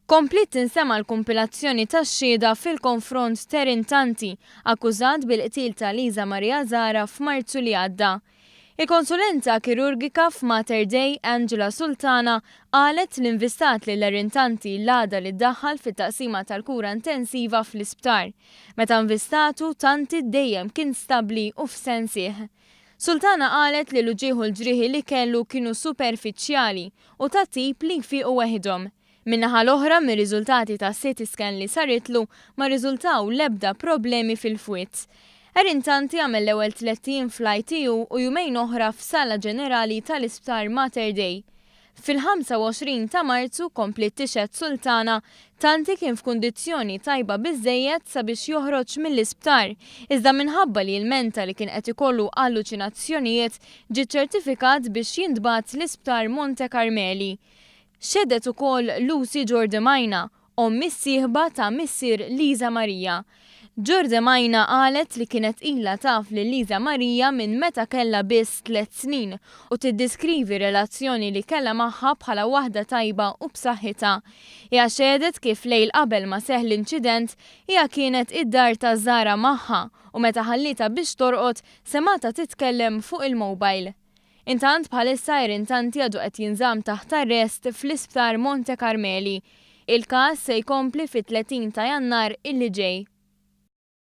Kompliet tinsema' l-kumpilazzjoni ta' xhieda fil-konfront ter intanti akkużat bil-qtil ta' Liza Maria Zahra f'Marzu li għadda. Il-konsulenta kirurgika f'Mater Dei, Angela Sultana, qalet li nvistat lil er intanti l-għada li ddaħħal fit-taqsima tal-kura intensiva fl-isptar. Meta nvistatu, tanti dejjem kien stabbli u f'sensieh. Sultana qalet li l-uġigħ u l-ġrieħi li kellu kienu superfiċjali u ta' tip li jfiequ weħidhom. Min-naħa l-oħra, mir-riżultati ta' CT scan li saritlu ma rriżultaw l-ebda problemi fil-fwied. Erin Tanti għamel l-ewwel tlett ijiem fl-ITU u jumejn oħra f'sala ġenerali tal-Isptar Mater Dei. Fil-25 ta' Marzu, kompliet tixhed Sultana, Tanti kien f'kundizzjoni tajba biżżejjed sabiex joħroġ mill-isptar, iżda minħabba li jilmenta li kien qed ikollu alluċinazzjonijiet, ġie ċċertifikat biex jintbagħat l-Isptar Monte Karmeli. Xehdet ukoll Lucy Jordi Maina, omm is-sieħba ta' missier Lisa Maria. Jorde Maina qalet li kienet ilha taf lil Lisa Maria minn meta kellha biss tliet snin u tiddiskrivi r-relazzjoni li kellha magħha bħala waħda tajba u b'saħħitha. Hija xehdet kif lejl qabel ma seħħ l-inċident hija kienet id-dar ta' Zara magħha u meta ħallietha biex torqod semgħatha titkellem fuq il-mobile. Intant bħalissa Erin Tanti għadu qed jinżamm taħt arrest fl-Isptar Monte Carmeli. Il-każ se jkompli fit-30 ta' Jannar illi ġej.